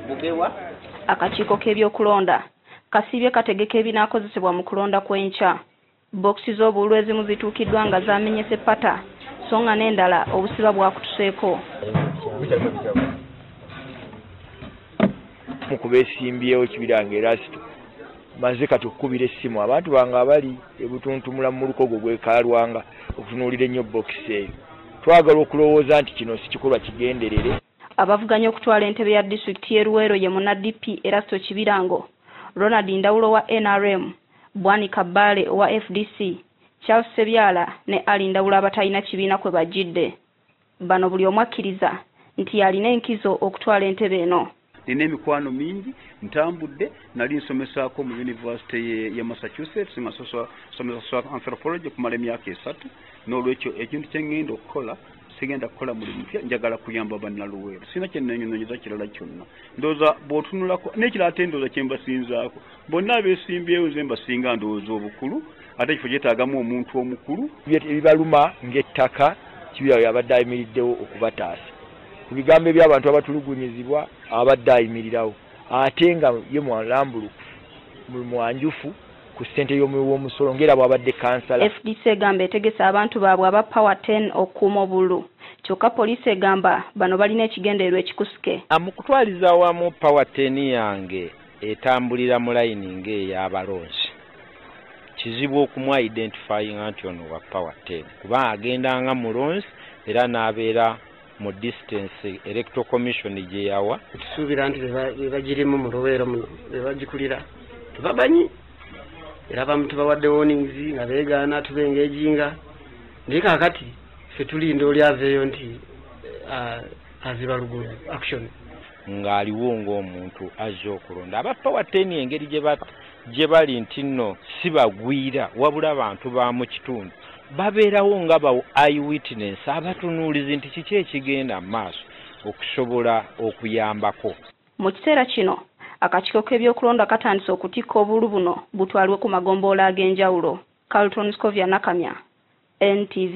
bugewa akakiiko k'ebyokulonda kasiibye kategeka ebinaakozesebwa mu kulonda kw'enkya bookisi z'obululu ezimu zituukiddwa nga zaamenyese pata so nga n'endala obusiba bwakutuseeko mukuba esimbyewo kibira nga erasito maze kati okukubira essimu abantu bange abali ebutuntumula mu muluka ogwo gwekalwanga okutunuulira ennyo bookisi eyo twagala okulowooza nti kino si kikolwa kigenderere Abavuganya okutwala entebe ya disitulikiti y'e Luweero ye munna DP Erasto Kibirango, Ronald Ndawula owa nrm, Bwanika Bbaale owa fdc, Charles Ssebyala ne Ali Ndawula abatalina kibiina kwe bajjidde. Bano buli omu akkiriza nti y'alina enkizo okutwala entebe eno. Nina emikwano mingi, ntambudde, nali nsomesaako mu yunivasite ye Massachusetts nga nsomesa anthropology okumala emyaka esatu, n'olwekyo ekintu kye ngenda okukola sigenda kukola mulimu mupya njagala kuyamba bannaluweero sirina kyennenyononyeza kirala kyonna ndowooza bw'otunulako n'ekirala ate ndowooza kye mbasinzaako bonna abeesimbyewo nze mbasinga ndowooza obukulu ate ekifo kyetaagamu omuntu omukulu ebibaluma ng'ettaka kibyawo yabadde ayimiriddewo okubataasa ku bigambo eby'abantu abatulugunyizibwa abadde ayimirirawo ate nga ye mwalambulukufu mwanjufu ku ssente y'omuwi w'omusolo ng'era bwabadde kansala fdc egamba etegese abantu baabwe aba power 10 okukuuma obulu kyokka poliisi egamba bano balina ekigendererwa ekikusike mu kutwaliza awamu power 10 yange etambulira mu layini ng'ey'abalonzi kizibu okumwa identifyinga nti ono wa power 10 kuba agenda nga mulonzi era n'abeera mu distance electoral commission gye yawa tusuubira nti bebagirimu mu luweero muno bebagikulira tebamanyi era bamu tubawadde warnings nga beegaana tubenga ejinga naye kakati fe tulinda oli aveeyo nti uh, aziba luguudo action ng'aliwo ng'omuntu azze okulonda abaffa watta eni engeri gye bata gye bali nti nno si bagwira wabula bantu ba mu kitundu babeerawo nga ba i witness abatunuulizi nti kiki ekigenda mu maaso okusobola okuyambako mu kiseera kino akakiiko k'ebyokulonda katandise okutikka obulu buno butwalibwe ku magomboola ag'enjawulo carlton scovia nakamya ntv